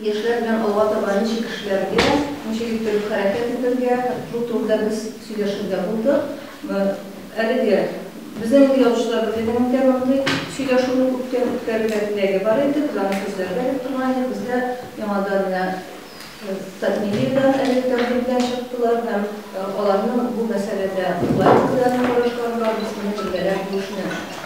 Яшьләр белән алга таба ничек эшләргә, ничек иттереп хәрәкәт итәргә, шул турыда без сөйләшергә булдык. Әлеге безнең инде язучылар берлегенең дә мондый сөйләшүне күптән үткәрергә теләге бар иде, без аны күзләргә дип торган идек. Без дә яңадан менә Татмедиадан әлеге тәкъдим белән чыктылар һәм аларның бу мәсьәләдә уйлар белән карашлары бар, без моны бергәләп бүлешмәк.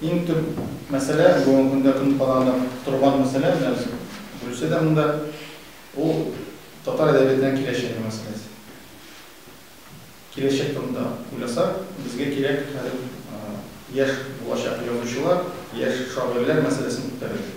Иң төп мәсьәлә, бүгенге көндә көн кадагында торган мәсьәлә, менә без Гөлүсә дә монда, ул татар әдәбиятының киләчәге мәсьәләсе. Киләчәк турында уйласак, безгә кирәк хәзер яшь булачак язучылар, яшь шагыйрьләр мәсьәләсен күтәрергә.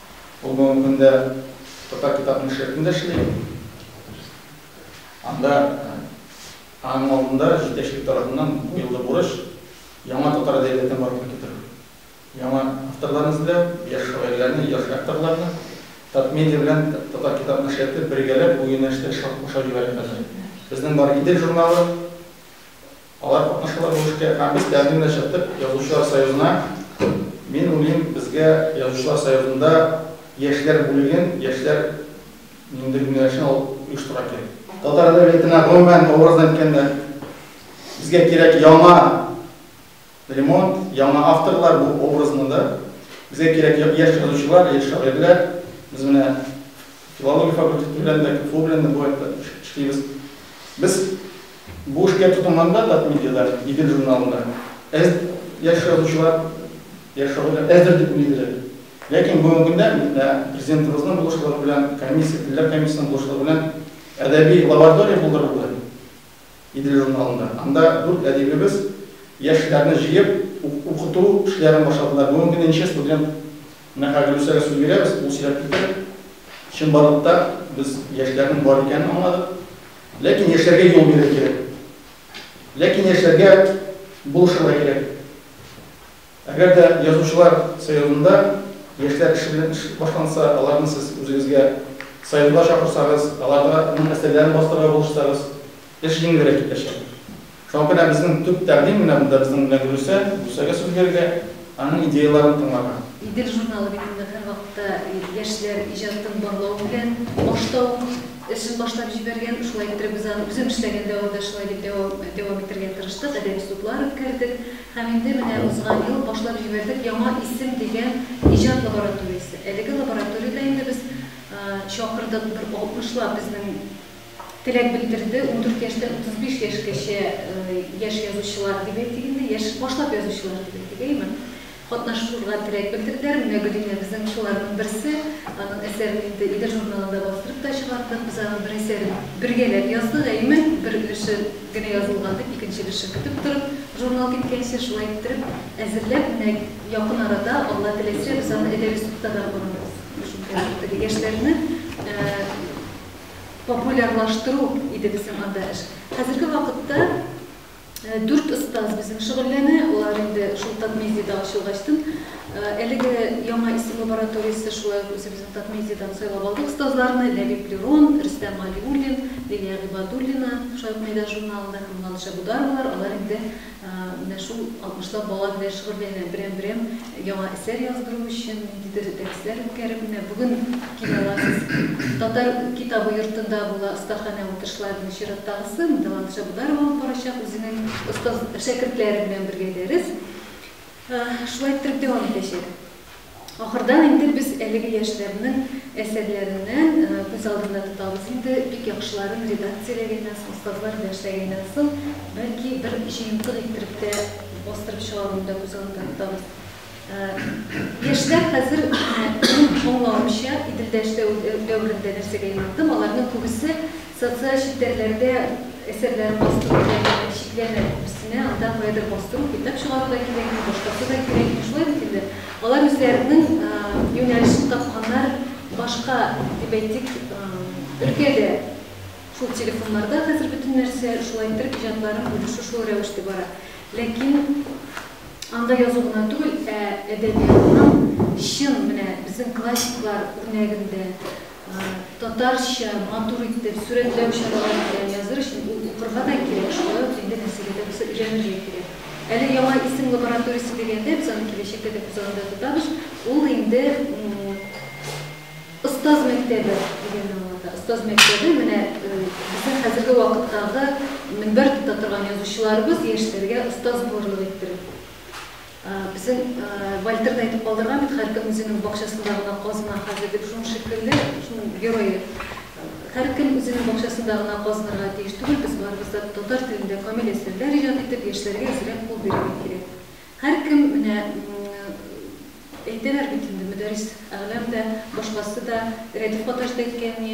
Ул бүгенге көндә Татар китапның шефында эшли. Анда аның алдында җитәкчелек тарафыннан бу елгы бурыч, яңа татар әдәбиятын барлыкка китерү. Яңа авторларны эзләү, яшь шагыйрьләрне, яшь авторларны. Татмедиа белән Татар китапның шефы бергәләп бу юнәлештә эш алып башлап җибәрә хәзер. Безнең бар Идел журналы. Алар катнашалар бу эшкә һәм без тәкъдим белән чыктык Язучылар союзына. Мин уйлыйм, безгә Язучылар союзында яшьләр бүлеген, яшьләр нинди юнәлешне алып оештырырга кирәк. Татар әдәбиятына гомумән, образно әйткәндә, безгә кирәк яңа ремонт, яңа авторлар, бу образно да. Безгә кирәк яшь язучылар, яшь шагыйрьләр. Без менә филология факультеты белән дә, КФУ белән дә бу вакытта эшлибез. Без Бу эшкә тотынганда Татмедиада, Идел журналында әз яшь язучылар яшь шагыйрьләр әздер дип уйлыйбыз әле. Ләкин бүгенге көндә менә Президентыбызның булышлыгы белән, комиссия, телләр комиссиясенең булышлыгы белән әдәби лаборатория булдырылды Идел журналында. Анда дүрт әдибебез яшьләрне җыеп, укыту эшләрен башладылар. Бүгенге көндә ничә студент Менә хәзер үзләре сүз бирәбез, ул сөйләп китәр. Чынбарлык та без яшьләрнең бар икәнен аңладык. Ләкин яшьләргә юл бирер кирәк. Ләкин яшьләргә булышырга кирәк. Әгәр дә язучылар союзында яшьләр эше белән эш башланса, аларны сез үзегезгә союзга чакырсагыз, аларга моның әсәрләрен бастырырга булышсагыз, Эш җиңелрәк китәчәк. Шуңа күрә безнең төп тәкъдим менә монда безнең белән Гөлүсә, Гөлүсәгә сүз бирергә, аның идеяләрен тыңларга. Идел журналы бит инде һәрвакытта яшьләр иҗатын барлау белән башта ук эшен башлап җибәргән. Шулай иттереп без аны үзем эшләгән дәвамда шулай дип дәвам дәвам итәргә тырыштык, әдәби судлар үткәрдек һәм инде менә узган ел башлап җибәрдек Яңа исем дигән иҗат лабораториясе. Әлеге лабораториядә инде без чакырдык бер алтмышлап безнең теләк белдерде. Ундүрт яшьтән утыз биш яшькәчә яшь язучылар, дип әйтик инде, яшь башлап язучылар, дип әйтик, әйеме? катнашырга теләк белдерделәр. Менә Гөлинә безнең шуларның берсе. Аның әсәрен инде Идел журналында бастырып та чыгардык. Без аның бер әсәрен бергәләп яздык, әйеме? Бер өлеше генә язылган, дип, икенче өлешен көтеп торып, журнал киткәнче, шулай иттереп әзерләп, менә якын арада, Алла теләсә, без аны Әдәби судта да карарбыз. Яшьләрне популярлаштыру иде безнең анда эш. Хәзерге вакытта дүрт остаз безнең шөгыльләнә, алар инде шул Татмедиада ачылу ачтын. Әлеге яңа исем лабораториясе шулай ук үзебезнең Татмедиадан сайлап алдык остазларны, Ләбиб Лерон, Рөстәм Галиуллин, Лилия Гыйбадуллина, шулай ук Мәйдан журналында һәм Ланша Бударовалар, алар инде Менә шул алтмышлап бала белән шөгыльләнә. Берәм-берәм яңа әсәр яздыру өчен ниндидер дәресләр үткәреп, менә бүген килә аласыз. Татар китабы йортында була остаханә утырышларының чираттагысы. Монда Латыш Абударов алып барачак үзенең остаз шәкертләре белән бергә дәрес. Шулай иттереп дәвам итәчәк. Ахырдан инде без әлеге яшьләрнең әсәрләреннән күз алдында тотабыз инде, бик яхшыларын редакцияләгәннән соң, остазлар дәресләгәннән соң, бәлки, бер җыентык иттереп тә бастырып чыгаруны да күз алдында тотабыз. Яшьләр хәзер, минем аңлавымча, Иделдә эшләү дәверендә нәрсәгә юнәлдем, аларның күбесе Социаль челтәрләрдә әсәрләрен бастыру дигән чикләмә күбесенә, анда каядыр бастыру, китап чыгару да кирәкми, башкасы да кирәкми. Шулай бит инде. Алар үзләренең юнәлешен тапканнар, башка, дип әйтик, өлкәдә. Шул телефоннарда хәзер бөтен нәрсә, шулай иттереп иҗатларын бүлешү шул рәвештә бара. Ләкин анда язу гына түгел, ә әдәбиятның чын, менә безнең классиклар үрнәгендә, татарча матур итеп сурәтләү чаралары белән языр өчен ул укырга да кирәк, шулай ук инде нәрсәгә дә булса өйрәнергә кирәк. Әле яңа исем лабораториясе дигәндә, без аны киләчәктә дә күз алдында тотабыз, ул инде остаз мәктәбе дигәнне аңлата. Остаз мәктәбе, менә безнең хәзерге вакыттагы мөнбәр тота торган язучыларыбыз яшьләргә остаз булырлык иттереп. Безнең Вальтер да әйтеп калдырган бит, һәркем үзенең бакчасында гына казына хәзер дип, шуның шикелле, шуның герое. Һәркем үзенең бакчасында гына казынырга тиеш түгел, без барыбыз да татар телендә камил әсәрләр иҗат итеп, яшьләргә әзрәк кул бирергә кирәк. Һәркем менә әйтәләр бит инде, Мөдәрис Әгълам да, башкасы да, Рәдиф Гаташ да әйткән, ни,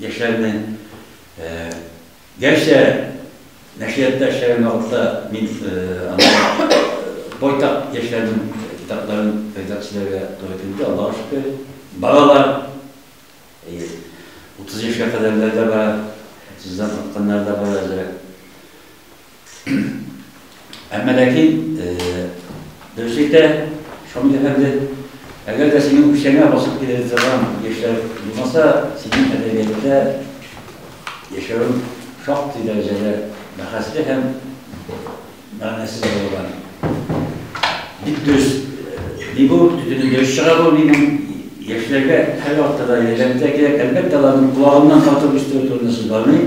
Яшьләрне, гәрчә нәшриятта эшләгән вакытта мин байтак яшьләрнең китапларын редакцияләргә туры килде, Аллага шөкер. Бала бар, 30 яшькә кадәрләр дә бар, 30 дан калкканнар да бар әзрәк. Әмма ләкин дөрес әйтә Шамил әфәнде, әгәр дә синең үкчәңә басып килә торган яшьләр булмаса, синең әдәбиятта яшәвең шактый дәрәҗәдә бәхәсле һәм мәгънәсез булган. Бик дөрес. Ни бу, төтене дөрес чыга бу минем яшьләргә һәр вакытта да ярдәм итә кирәк. Әлбәттә, аларның колагыннан тартып үстерү турында сүз бармый.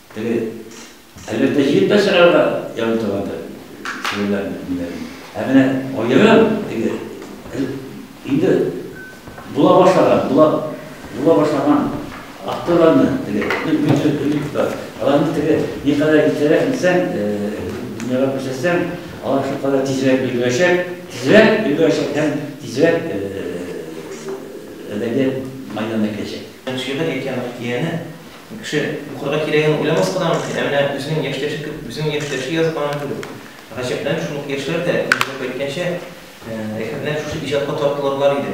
Теге, әлбәттә, җыеп та чыгарырга ярый торгандыр, серләрне, ниләрне. Ә менә аерым, теге, инде була башлаган, була, була башлаган авторларны, теге, бөтен бөтен аларны теге, не кадәр итәрәк итсәң, дөньяга күрсәтсәң, алар шул кадәр тизрәк өлгерәчәк, тизрәк өлгерәчәк һәм тизрәк әдәбият мәйданына киләчәк. Шигырь әйтә Мәхтияне, Кеше, укырга кирәген уйламаска да мөмкин, ә менә үзенең яшьтәше кеб, үзенең яшьтәше язганын күреп, гаҗәпләнеп, шундук яшьләр дә, Мирзәгап әйткәнчә, әкренләп шушы иҗатка тартылырлар иде.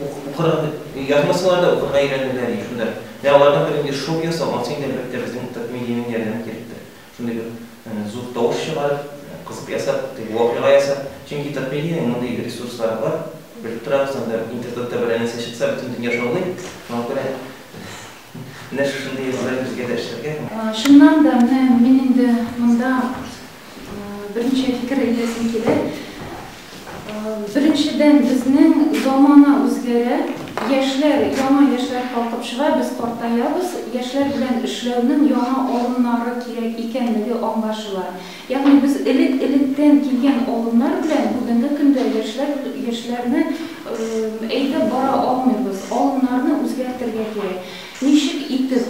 Ук, укырга, язмасалар да, укырга өйрәнерләр иде. Шунда, менә алардан бер нинди шоу ясау, анысы инде, әлбәттә, безнең татмедиянең ярдәмен кирәктер. Шундый бер зур тавыш чыгарып, кызык ясап, теге вакыйга ясап. Чөнки татмедиянең мондый ресурслары бар, белеп торабыз, анда интернетта бер нәрсә чыкса, бөтен дөнья шаулый. Шуңа күрә. Менә шушындый язулар безгә дә эшләргә. Чыннан да, менә мин инде монда берничә фикер әйтәсем килә. Беренчедән, безнең замана үзгәрә, яшьләр, яңа яшьләр калкып чыга, без картаябыз, яшьләр белән эшләүнең яңа алымнары кирәк икәнлеге аңлашыла. Ягъни без элек-электән килгән алымнар белән бүгенге көндә яшьләр яшьләрне әйдәп бара алмыйбыз. Алымнарны үзгәртергә кирәк. Ничек итеп?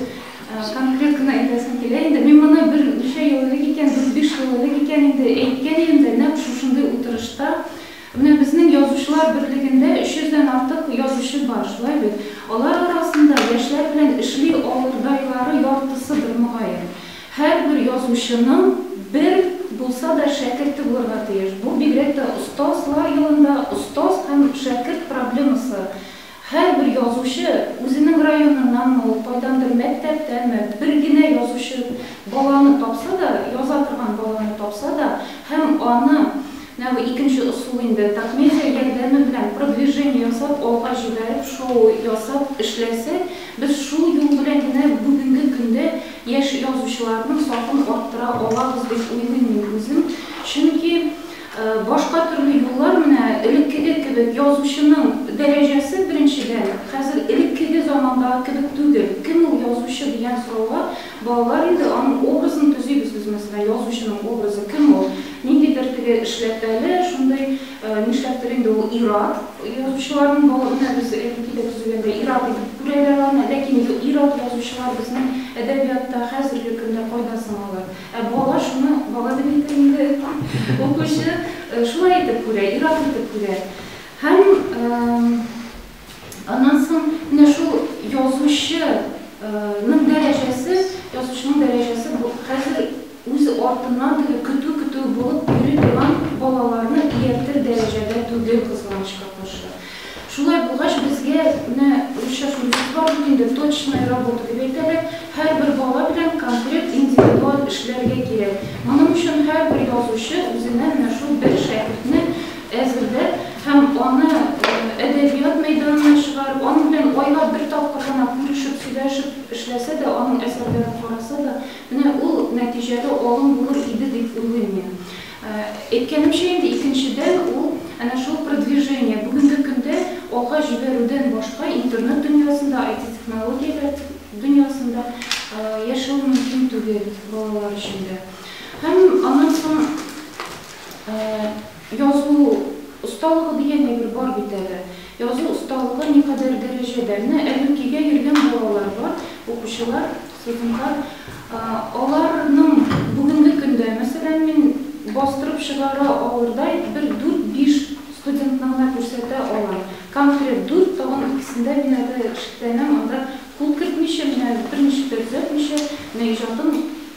Конкрет кына әйтәсем килә инде. Мин моны бер ничә ел элек икән, дүрт-биш ел элек икән инде, әйткән идем дә, нәкъ шушындый утырышта. Менә безнең Язучылар берлегендә өч йөздән артык язучы бар, шулай бит? Алар арасында яшьләр белән эшли алырдайлары яртысыдыр, мөгаен. Һәрбер язучының бер булса да шәкерте булырга тиеш. Бу бигрәк тә остазлар елында остаз һәм шәкерт проблемасы. Һәрбер язучы, үзенең районыннанмы ул, кайдандыр мәктәптәнме, бер генә язучы баланы тапса да, яза торган баланы тапса да һәм аны, менә бу икенче ысул инде, токмедиа ярдәме белән продвижение ясап, алга җибәреп, шоу ясап эшләсә, без шул юл белән генә бүгенге көндә Яшь язучыларның сафын арттыра алабыз дип уйлыйм мин үзем. Чөнки башка төрле юллар менә элеккеге кебек язучының дәрәҗәсе, беренчедән, хәзер элеккеге замандагы кебек түгел. Кем ул язучы дигән сорауга балалар инде аның образын төзибез без мәсәлән, язучының образы кем ул? Ниндидер теге эшләпәле, шундый Нишләптер инде ул ир-ат. Язучыларның бала өнәгесе элеккедә төзегәндә ир-ат итеп күрәләр аны. Ләкин ир-ат язучылар безнең әдәбиятта хәзерге көндә кайда соң алар? Ә бала шуны, бала димик тә инде, укучы шулай итеп күрә, ир-ат итеп күрә. Һәм Аннан соң менә шул язучы ның дәрәҗәсе, язучының дәрәҗәсе бу хәзер үз артыннан теге көтү-көтү булып йөри торган балаларны ияртер дәрәҗәдә түгел, кызганычка каршы. Шулай булгач, безгә менә русча шундыйсы бар бит инде, точная работа дип әйтәләр, һәрбер бала белән конкрет индивидуаль эшләргә кирәк. Моның өчен һәрбер язучы үзенә менә шул бер шәкертне Әзерлә һәм аны әдәбият мәйданына чыгар. Аның белән айлап бер тапкыр гына күрешеп, сөйләшеп эшләсә дә, аның әсәрләрен караса да, менә ул нәтиҗәле алым булыр иде дип уйлыйм мин. Әйткәнемчә инде, икенчедән, ул әнә шул продвижение, бүгенге көндә алга җибәрүдән башка интернет дөньясында, IT-технологияләр дөньясында яшәү мөмкин түгел балалар өчен дә. Һәм аннан соң. Язу осталыгы дигән әйбер бар бит әле. Язу осталыгы никадәр дәрәҗәдә? Менә әле үк өйгә йөргән балалар бар, укучылар, студентлар. Аларның бүгенге көндә, мәсәлән, мин бастырып чыгара алырдай бер дүрт-биш студентны гына күрсәтә алам. Конкрет дүрт, тагын икесендә мин әле шикләнәм, анда кул кертмичә, менә берничек тә төзәтмичә, менә иҗатын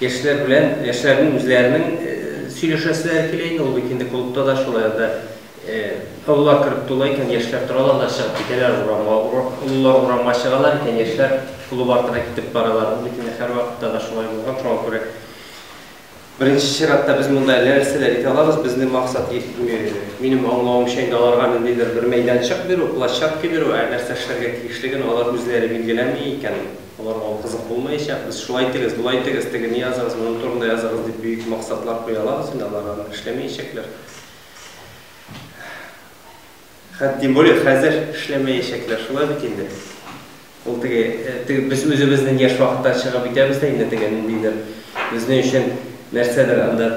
Яшьләр белән, яшьләрнең үзләренең сөйләшәселәре килә инде, ул бит инде клубта да шулай, анда олылар кереп тула икән, яшьләр торалар да чыгып китәләр урамга, олылар урамга чыгалар икән, яшьләр клуб артына китеп баралар, ул бит инде һәрвакытта да шулай булган, шуңа күрә беренче чиратта без монда әллә нәрсә дә итә алабыз, безнең максат, минем аңлавымча инде, аларга ниндидер бер мәйданчык бирү, площадка бирү, ә нәрсә эшләргә тиешлеген алар үзләре билгеләми икән. Аларга ул кызык булмаячак. Без шулай итегез, болай итегез, тегене языгыз, моның турында языгыз дип бөек максатлар куя алабыз, инде алар аны эшләмәячәкләр. Хәт, тем более, хәзер эшләмәячәкләр, шулай бит инде. Ул теге, теге без үзебезнең яшь вакытта чыгып итәбез дә инде теге ниндидер безнең өчен нәрсәдер анда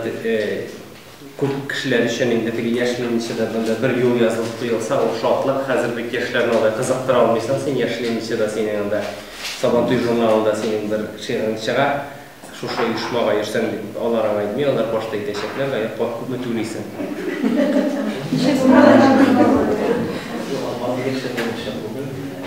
Күп кешеләр өчен инде теге яшь Ленинчеда бында бер юл язылып куелса, ул шатлык. Хәзер бит яшьләрне алай кызыктыра алмыйсың син, яшь Ленинчеда синең анда Сабантуй журналында синең бер шигырең чыга, шушы оешмага йөрсәң дип. Алар аңа әйтми, алар башта әйтәчәкләр, Гаеп бар, күпме түлисең?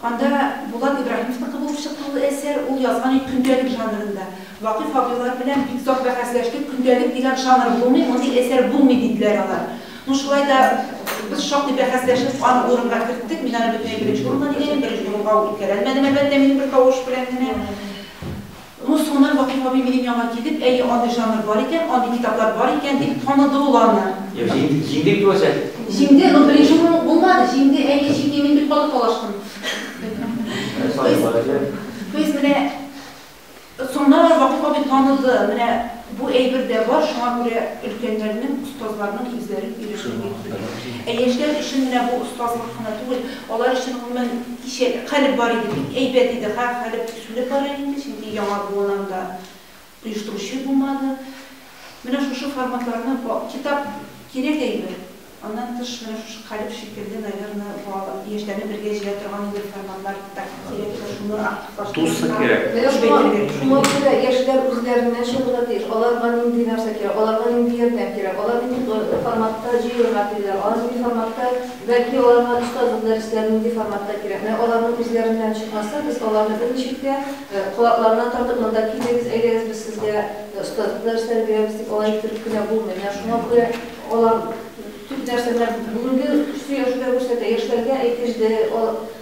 Анда Булат Ибраһимовныкы булып чыкты ул әсәр. Ул язган иде көндәлек жанрында. Вакыйф абыйлар белән бик озак бәхәсләштек, көндәлек дигән жанр булмый, мондый әсәр булмый, диделәр алар. Ну, шулай да без шактый бәхәсләшеп, аны урынга керттек. Мин аны бөтенләй беренче урынга дигән идем, беренче урынга ул үткәрәлмәдем, әлбәттә, минем бер тавыш белән генә. Рус Гуннар Вакыйф абый минем янга килеп, Әйе, андый жанр бар икән, андый китаплар бар икән, дип таныды ул аны. Җиңде бит ул әсәр. Җиңде, но беренче урын ук булмады. Җиңде, әйе, җиңде, мин бик каты талаштым. То есть менә соңыннан аны Вакыйф абый таныды, менә бу әйбер дә бар, шуңа күрә өлкәннәрнең, остазларның үзләрен өйрәтү бик мөһим. Ә яшьләр өчен менә бу остазлык кына түгел, алар өчен гомумән кичә, калеб бар иде, бик әйбәт иде, ха, калеб. Килеп бара инде, чөнки яңа буын анда оештыручы булмады. Менә шушы форматларны китап кирәк әйбер. Аннан тыш менә шушы калеб шикелле, наверно, балалар, яшьләрне бергә җыя торган инде форматлар так кирәк тә шуны активлаштырырга. Менә шуңа, шуңа күрә яшьләр үзләреннән чыгырга тиеш. Аларга нинди нәрсә кирәк, аларга нинди ярдәм кирәк, алар нинди форматта җыелырга телиләр, алар нинди форматта Бәлки аларга остазлык дәресләре нинди форматта кирәкме? Аларның үзләреннән чыкмаса, без аларны бер ничек тә колакларына тартып, монда килегез, әйдәгез, без сезгә остазлык дәресләре бирәбез дип, алай иттереп кенә булмый. Менә шуңа күрә алар төп нәрсә, менә бүгенге сөйләшүдә күрсәтә, яшьләргә әйтелде,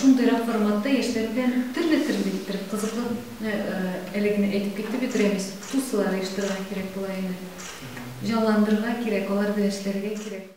Шундыйрак форматта яшьләр белән төрле-төрле иттереп кызыклы әле генә әйтеп китте бит Рәмис, тусылар оештырырга кирәк була инде. Җанландырырга кирәк, алар белән эшләргә кирәк.